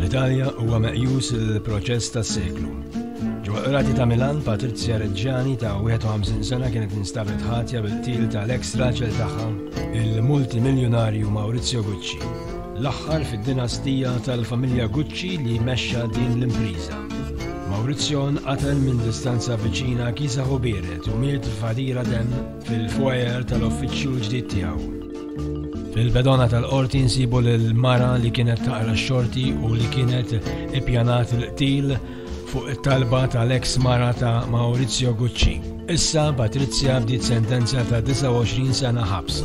Fl-Italja huwa meqjus il-proċess tas-seklu. Ġewwa qrati ta' Milan, Patrizja Reġġani ta' 51 sena kienet instabet ħatja bil-til tal-ex raġel tagħha, il-multimiljonarju Maurizio Gucci. L-aħħar fid-dinastija tal-familja Gucci li mexxa din l-impriża. Maurizio nqatel minn distanza viċina Kisa Ħubieret u miet f'għadira demm fil-foyer tal-uffiċċju l-ġdid tiegħu. Fil-bedona tal-qorti nsibu l-mara li kienet taqra xorti u li kienet ippjanat l-qtil fuq it-talba tal-eks mara ta' Maurizio Gucci. Issa Patrizia bdiet sentenza ta' 29 sena ħabs.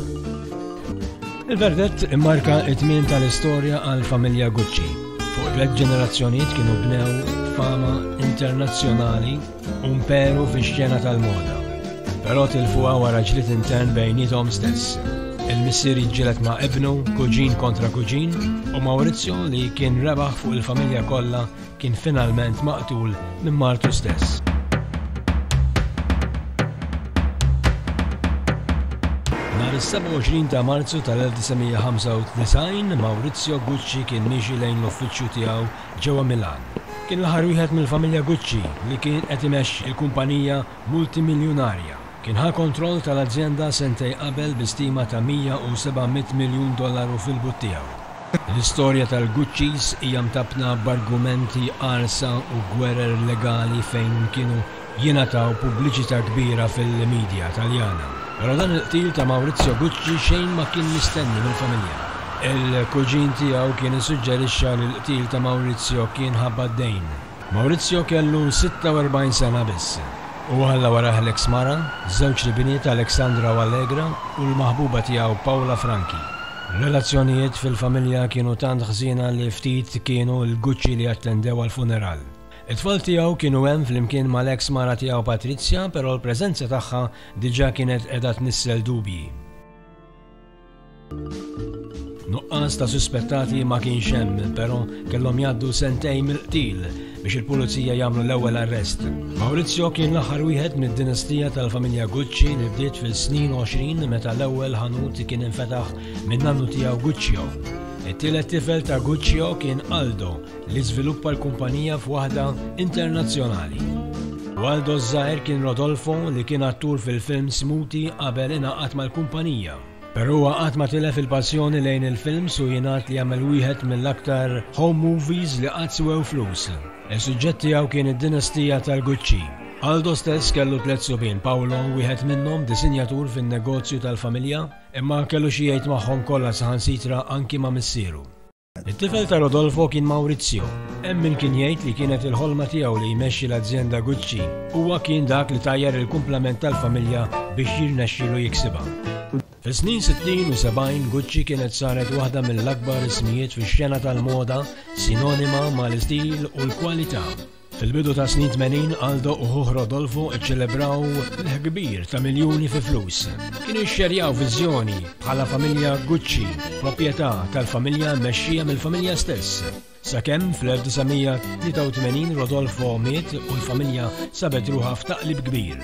Il-verdett immarka t-tmiem tal-istorja għall-familja Gucci. Fuq tliet ġenerazzjonijiet kienu bnew fama internazzjonali u mperu fix-xena tal-moda. Però tilfuha wara ġlied intern bejniethom stess. Il-missier jiġġieled ma' ibnu, kuġin kontra kuġin, u Maurizio li kien rebaħ fuq il-familja kollha kien finalment maqtul minn martu stess. Nhar is-27 ta' Marzu tal-1995, Maurizio Gucci kien miexi lejn l-uffiċċju tiegħu ġewwa Milan. Kien l-aħħar wieħed mill-familja Gucci li kien qed imexxi l-kumpanija multimiljunarja. Kien ħa kontroll tal-azjenda sentej qabel bi stima ta' 100 u 700 miljun dollaru fil-but tiegħu. L-istorja tal-Guccis hija mtappna b'argumenti qarsa u gwerer legali fejn kienu jingħataw pubbliċità kbira fil-midja Taljana. Però dan il-qtil ta' Maurizio Gucci xejn ma kien mistenni mill-familja. Il-kuġin tiegħu kien issuġġerixxa li l-qtil ta' Maurizio kien ħabba d-dejn. Maurizio kellu 46 sena biss u ħalla warajh l-eks mara, żewġt ibniet Alexandra u Allegra u l-maħbuba tiegħu Paula Franchi. Relazzjonijiet fil-familja kienu tant ħżiena li ftit kienu l-Gucci li attendew għall-funeral. It-tfal tiegħu kienu hemm flimkien mal-eks mara tiegħu Patrizia, però l-preżenza tagħha diġà kienet qiegħda tnissel dubji. Nuqqas ta' suspettati ma kienx hemm, però kellhom jgħaddu sentejn mill-qtil biex il-pulizija jagħmlu l-ewwel arrest. Maurizio kien l-aħħar wieħed mid-dinastija tal-familja Gucci li bdiet fis-snin 20 meta l-ewwel ħanut kien infetaħ minn nannu tiegħu Guccio. It-tielet tifel ta' Guccio kien Aldo li żviluppa l-kumpanija f'waħda internazzjonali. Waldo ż-żgħir kien Rodolfo li kien attur fil-film Smuti qabel ingħaqad mal-kumpanija. Però huwa qatt ma tilef il-passjoni lejn il-films u jingħad li għamel wieħed mill-aktar home movies li qatt swew flus. Is-suġġett tiegħu kien id-dinastija tal-Gucci. Aldo stess kellu tliet subien, Paolo wieħed minnhom disinjatur fin-negozju tal-familja, imma kellu xi jgħid magħhom kollha saħansitra anki ma' missieru. It-tifel ta' Rodolfo kien Maurizio. Hemm min kien jgħid li kienet il-ħolma tiegħu li jmexxi l-azjenda Gucci. Huwa kien dak li tajjar il-kumplament tal-familja biex jirnexxilu jiksibha. Fis-snin sittin u sebgħin, Gucci kienet saret waħda mill-akbar ismijiet fix-xena tal-moda, sinonima mal-istil u l-kwalità. Fil-bidu tas-snin tmenin, Aldo u ħuh Rodolfo ċċelebraw l-ħkbir ta' miljuni fi flus. Kienu jixxerjaw viżjoni bħala familja Gucci, proprjetà tal-familja mexxija mill-familja stess. Sakemm fl-1983 Rodolfo miet u l-familja sabet ruħa f'taqlib kbir.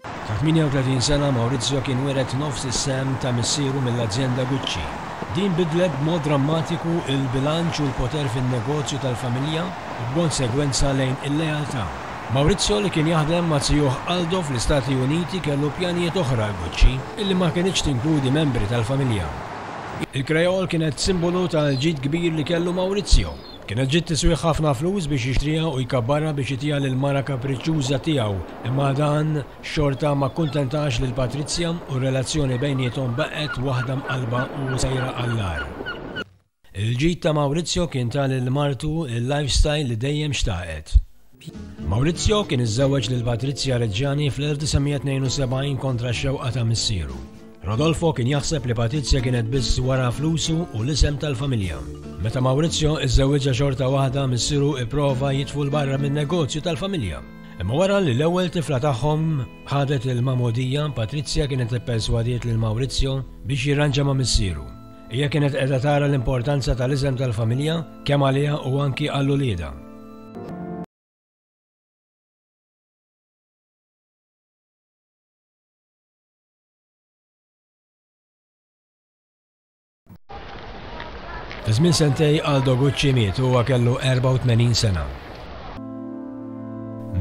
Ta' 38 sena, Maurizio kien wiret nofs is-sehem ta' missieru mill-azjenda Gucci. Din biddlet b'mod drammatiku l-bilanċ u l-poter fin-negozju tal-familja u b'konsegwenza lejn il-lealtà. Maurizio li kien jaħdem ma' zijuh Aldo fl-Istati Uniti kellu pjanijiet oħra għal Gucci illi ma kinitx tinkludi membri tal-familja. Il-Creole kienet simbolu tal-ġid kbir li kellu Maurizio. Kienet ġiet tiswih ħafna flus biex jixtriha u jkabbarha biex itiha lill-mara kapriċċuża tiegħu, imma dan xorta ma kkuntentax lil Patrizja u r-relazzjoni bejniethom baqgħet waħda mqallba u sejra għall-agħar. Il-ġid ta' Maurizio kien ta lil martu l-lifestyle li dejjem xtaqet. Maurizio kien iżżewweġ lil Patrizia Reggiani fl-1972 kontra x-xewqa ta' missieru. Rodolfo kien jaħseb li Patrizia kienet biss wara flusu u l-isem tal-familja. Meta Maurizio iżżewwiġha xorta waħda missieru ipprova jitfu l-barra min-negozju tal-familja. Imma wara li l-ewwel tifla tagħhom ħadet il-magħmudija, Patrizia kienet ipperswadiet lil Maurizio biex jirranġa ma' missieru. Hija kienet qiegħda tara l-importanza tal-iżem tal-familja kemm għaliha u anki għal uliedha. Fi żmien sentej Aldo Gucci miet huwa kellu 84 sena.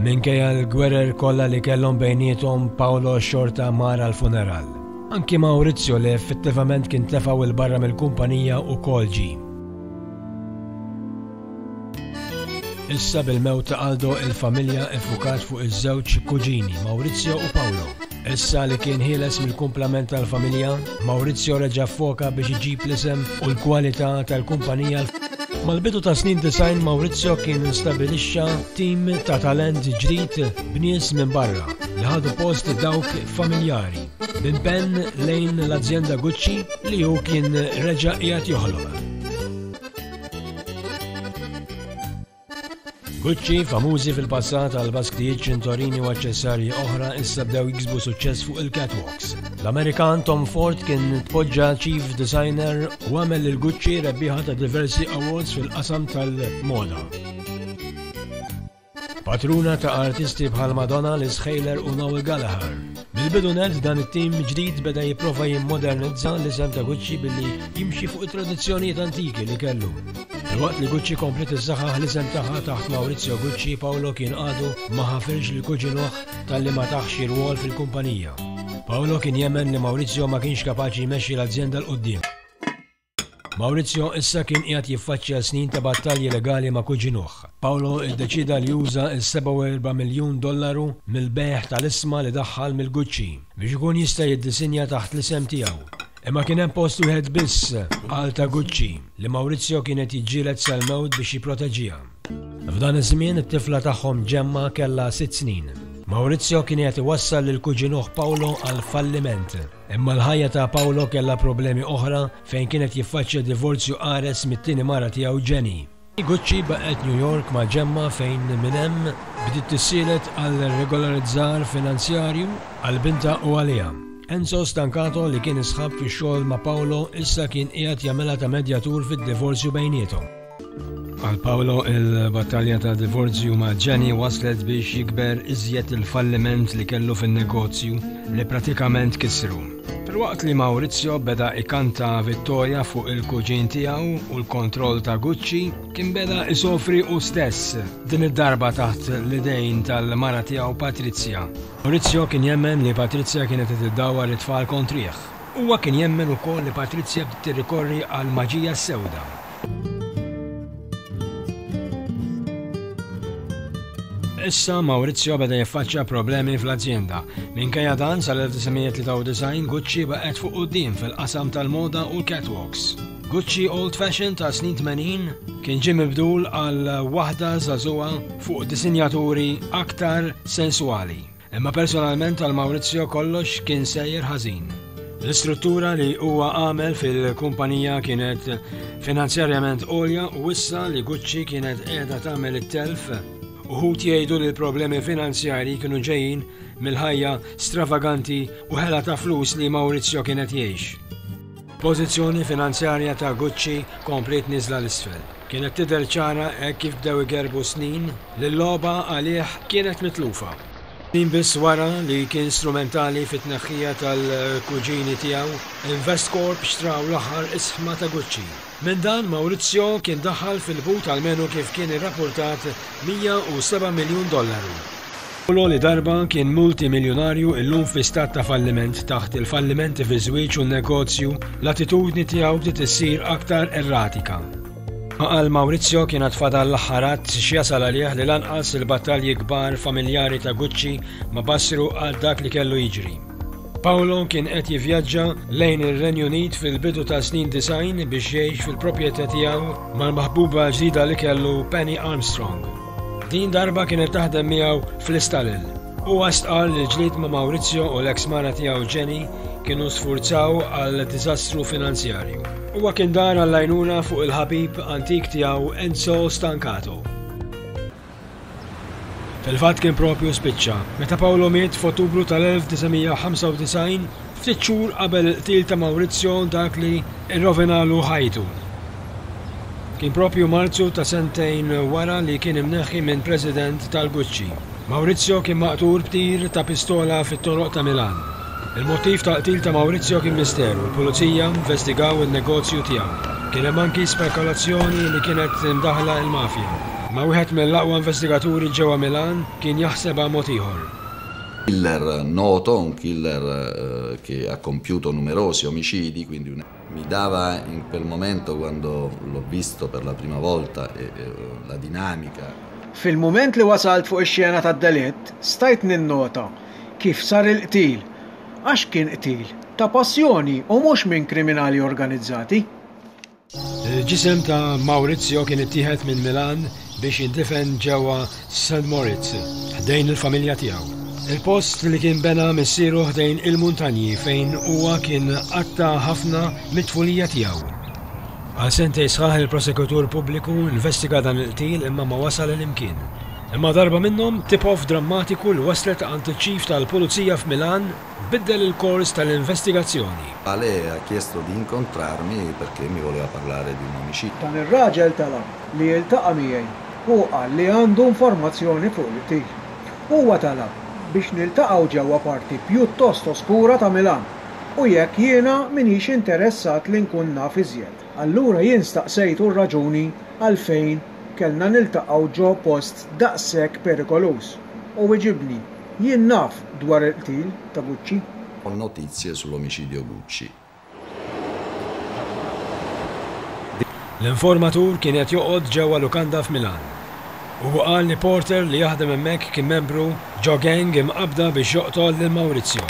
Minkejja l-gwerer kollha li kellhom bejniethom, Paolo xorta mar għall-funeral. Anki Maurizio li effettivament kien tlefgħu il barra mill-kumpanija u kol ġi. Issa bil-mewt ta' Aldo il-familja effukat fuq iż-żewġ kuġini Maurizio u Paolo. Issa li kien ħieles mill-kumplament tal-familja, Maurizio reġa' foka biex iġib l-isem u l-kwalità tal-kumpanija. Mal-bidu ta' snin design Maurizio kien instabilixxa tim ta' talent ġdid b'nies minn barra li ħadu post dawk familjari minn Ben lejn l-azjenda Gucci li hu kien reġa' qiegħed joħloq. Gucci, famużi fil-passat għal basktijiet, ċintorini u aċċessarji oħra, issa bdew jiksbu suċċess fuq il-catwalks. L-Amerikan Tom Ford kien tpoġġa chief designer u għamel il Gucci rebbieħa ta' diversi awards fil-qasam tal-moda. Patruna ta' artisti bħal Madonna, Liz Haler u Noel Gallagher. Mill-bidu nett dan it-tim ġdid beda jipprova jimmodernizza l-isem ta' Gucci billi jimxi fuq it-tradizzjonijiet antiki li kellu. Filwaqt li Gucci komplet iżżaħħaħ l-isem tagħha taħt Maurizio Gucci, Paolo kien għadu ma ħafirx lil kuġinuh talli ma tah xi rwol fil-kumpanija. Paolo kien jemmen li Maurizio ma kienx kapaċi jmexxi l-azjenda 'l quddiem. Maurizio issa kien qiegħed jiffaċċja snin ta' battalji legali ma' kuġinuh. Paolo ddeċieda li juża s-47 miljun dollaru mill-bejgħ tal-isma li daħħal mill-Gucci biex ikun jista' jiddisinja taħt l-isem tiegħu. Imma kien hemm post wieħed biss għal ta' Gucci, li Maurizio kien qed jiġġieled sal-mewt biex jipproteġiha. F'dan iż-żmien, it-tifla tagħhom Gemma kellha sitt snin. Maurizio kien qiegħed iwassal lil kuġinuh Paolo għall-falliment. Imma l-ħajja ta' Paolo kellha problemi oħra fejn kien qed jiffaċċja divorzju qares mit-tieni mara tiegħu Jenny. Gucci baqgħet New York ma' Gemma fejn minn hemm bdiet tissielet għal regolarizzar finanzjarju għal bintha u għaliha. Enzo Stancato li kien isħab fix-xogħol ma' Paolo issa kien qiegħed jagħmilha ta' medjatur fid-divorzju bejniethom. Għal Paolo il-battalja ta' divorzju ma' Jenny waslet biex jikber iżjed il-falliment li kellu fin-negozju li pratikament kisru. Filwaqt li Maurizio beda ikanta vittorja fuq il-kuġin tiegħu u l-kontroll ta' Gucci, kien beda isofri u stess, din id-darba taħt l-idejn tal-mara tiegħu Patrizia. Maurizio kien jemmen li Patrizia kienet qed iddawwar it-tfal kontrih. Huwa kien jemmen ukoll li Patrizia bdiet tirrikorri għall-maġija s-sewda. Issa Maurizio beda jiffaċċja problemi fl-azjenda. Minkejja dan sal-1993 Gucci baqgħet fuq quddiem fil-qasam tal-moda u l-catwalks. Gucci Old Fashion ta' snin 80 kien ġie mibdul għal waħda żagħżugħa fuq disinjaturi aktar sensuali. Imma personalment għal Maurizio kollox kien sejjer ħażin. L-istruttura li huwa għamel fil-kumpanija kienet finanzjarjament għolja u issa li Gucci kienet qiegħda tagħmel it-telf Uħut jgħidu li l-problemi finanzjari kienu ġejjin mill-ħajja stravaganti u ħela ta' flus li Maurizio kienet jgħix. Pożizzjoni finanzjarja ta' Gucci kompliet niżla 'l isfel. Kienet tidher ċara hekk kif bdew igerrbu snin li l-logħba għalih kienet mitlufa. Snin biss wara li kien strumentali fit-tneħħija tal-kuġini tiegħu, Investcorp xtraw l-aħħar isħma ta' Gucci. Minn dan, Maurizio kien daħħal fil-but almenu kif kien irrappurtat 107 miljun dollaru. Paolo li darba kien multimiljunarju illum fi stat ta' falliment taħt il-fallimenti fiż-żwieġ u n-negozju, l-attitudni tiegħu bdiet issir aktar erratika. Ma għal Maurizio kien għad fadal l-aħħar att x'jasal għalih li lanqas il-battalji kbar familjari ta' Gucci ma bassru għal dak li kellu jiġri. Paolo kien qed jivvjaġġa lejn ir-Renju Unit fil-bidu tas-snin 90 biex jgħix fil-propjetà tiegħu mal-maħbuba ġdida li kellu Penny Armstrong. Din darba kienet taħdem miegħu fl-istallel. Huwa stqarr li l-ġlied ma' Maurizio u l-eks mara tiegħu Jenny kienu sfurzaw għal diżastru finanzjarju. Huwa kien dar għall-għajnuna fuq il-ħabib antik tiegħu Enzo Stancato. Fil-fatt kien proprju spiċċa meta Paolo miet f'Ottubru tal-1995, ftit xhur qabel il-qtil ta' Maurizio dak li rrovinalu ħajtu. Kien proprju Marzu ta' sentejn wara li kien imneħħi minn President tal-Gucci. Maurizio kien maqtul b'tir ta' pistola fit-toroq ta' Milan. Il-mottiv tal-qtil ta' Maurizio kien misteru u l-Pulizija investigaw in-negozju tiegħu. Kien hemm anki spekulazzjoni li kienet imdaħħla il-mafja, imma wieħed mill-aqwa investigaturi ġewwa Milan kien jaħsebha mod ieħor. Killer noto, un killer che ha compiuto numerosi omicidi, quindi un. Mi dava in quel momento quando l'ho visto per la prima volta e la dinamica. Fil-mument li wasalt fuq ix-xena tad-delitt, stajt ninnota kif sar il-qtil, għax kien qtil ta' passjoni u mhux minn kriminali organizzati. Il-ġisem ta' Maurizio kien ittieħed minn Milan biex jindifen ġewwa St. Moritz, ħdejn il-familja tiegħu. Il-post li kien bena missieru ħdejn il-muntanji fejn huwa kien qatta' ħafna mit-tfulija tiegħu. Għal sentej sħaħ il-prosekutur pubbliku investiga dan il-qtil imma ma wasal il-imkien. Imma darba minnhom, tip-off drammatiku li waslet għand iċ-Chief tal-Pulizija f'Milan biddel il-kors tal-investigazzjoni. Ale ha chiesto di incontrarmi perché mi voleva parlare di un omicidio. Dan ir-raġel talab li jiltaqa' miegħi u qal li għandu informazzjoni fuq il-qtil. Huwa talab biex niltaqgħu ġewwa parti pjuttost oskura ta' Milan u jekk jiena m'iniex interessat li nkun naf iżjed. Allura jien staqsejtu r-raġuni għalfejn kellna niltaqgħu ġo post daqshekk perikoluż u wiġibni, Jien naf dwar il-qtil ta' Gucci. Ho notizie sull'omicidio Gucci. L-informatur kien qed joqgħod ġewwa lukanda f'Milan. Huwa qal li porter li jaħdem hemmhekk kien membru ġo gang imqabbda biex joqtol lil Maurizio.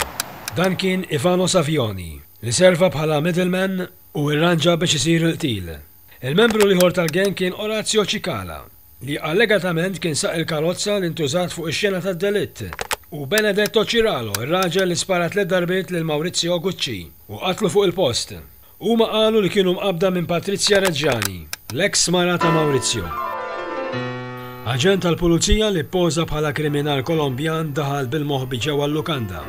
Dan kien Ivano Savioni, li serva bħala middleman u irranġa biex isir il-qtil. Il-membru l-ieħor tal-gang kien Orazio Cicala, li allegatament kien saq il-karozza li ntużat fuq ix-xena tad-delitt, u Benedetto Ciralo, ir-raġel li spara tliet darbiet lil Maurizio Gucci u qatlu fuq il-post. Huma qalu li kienu mqabbda minn Patrizia Reggiani, l-eks mara ta' Maurizio. Aġent tal-Pulizija li ppoża bħala kriminal Kolombjan daħal bil-moħbi ġewwa l-lukanda.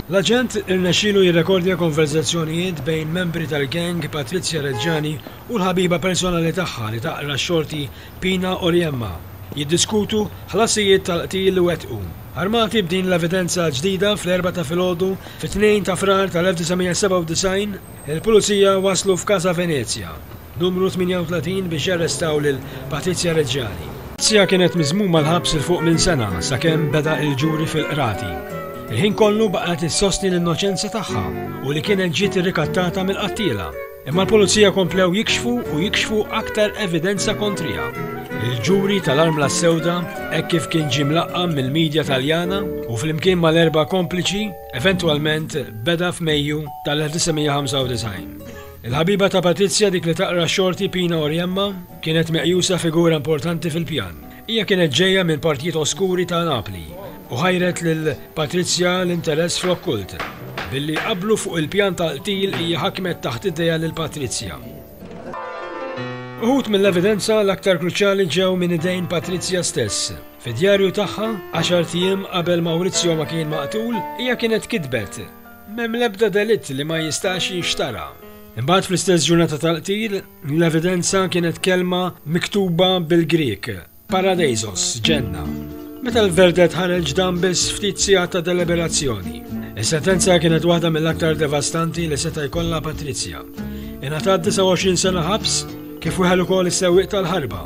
L-aġent irnexxielu jirrekordja konverżazzjonijiet bejn membri tal-gang Patrizia Reggiani u l-ħabiba personali tagħha li taqra x-xorti Pina Oriemma jiddiskutu ħlasijiet tal-qtil li wettqu. Armati b'din l-evidenza ġdida fl-Erbgħa ta' filgħodu fit-Tnejn ta' Frar tal-1997, il-Pulizija waslu f'Casa Venezia, Numru 38 biex jarrestaw lil Patrizia Reggiani. Patrizia kienet miżmuma l-ħabs 'il fuq minn sena sakemm beda il-ġuri fil-Qrati. Il-ħin kollu baqgħet issostni l-innoċenza tagħha u li kienet ġiet irrikattata mill-qattiela. Imma l-Pulizija komplew jikxfu u jikxfu aktar evidenza kontriha. Il-ġuri tal-Armla s-Sewda, hekk kif kien ġie mlaqqam mill-media Taljana u flimkien mal-erba' kompliċi, eventwalment beda f'Mejju tal-1995. Il-ħabiba ta' Patrizja, dik li taqra x-xorti Pina Oriemma, kienet meqjusa figura importanti fil-pjan. Hija kienet ġejja minn partijiet oskuri ta' Napli u ħajret lil Patrizja l-interess fl-okkult. Billi jqabblu fuq il-pjan tal-qtil hija ħakmet taħt idejha lil Patrizja. Uħud mill-evidenza l-aktar kruċjali ġew minn idejn Patrizja stess. Fid-djarju tagħha, għaxart ijiem qabel Maurizio ma kien maqtul, hija kienet kitbet M'hemm l-ebda delitt li ma jistax jinxtara. Imbagħad fl-istess ġurnata tal-qtil, l-evidenza kienet kelma miktuba bil-Grieg, paradeisos, ġenna. Meta l-verdett ħareġ dam biss ftit sigħat ta' deliberazzjoni. Is-sentenza kienet waħda mill-aktar devastanti li seta' jkollha Patrizia. Ingħatat 29 sena ħabs, kif weħel ukoll is-sewwieq tal-ħarba.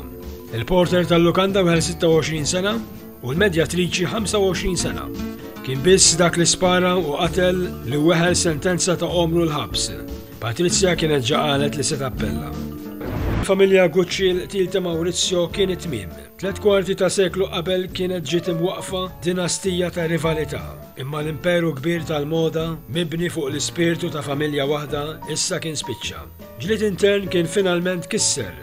Il-porter tal-lukanda weħel 26 sena. u l-medjatriċi 25 sena. Kien biss dak li spara u qatel li weħel sentenza ta' għomru l-ħabs. Patrizja kienet ġaqalet li se tappella. Familja Gucci l-qtil ta' Maurizio kien it-tmiem. Tlet kwarti ta' seklu qabel kienet ġiet imwaqfa dinastija ta' rivalità. Imma l-imperu kbir tal-moda, mibni fuq l-ispirtu ta' familja waħda, issa kien spiċċa. Ġlied intern kien finalment kisser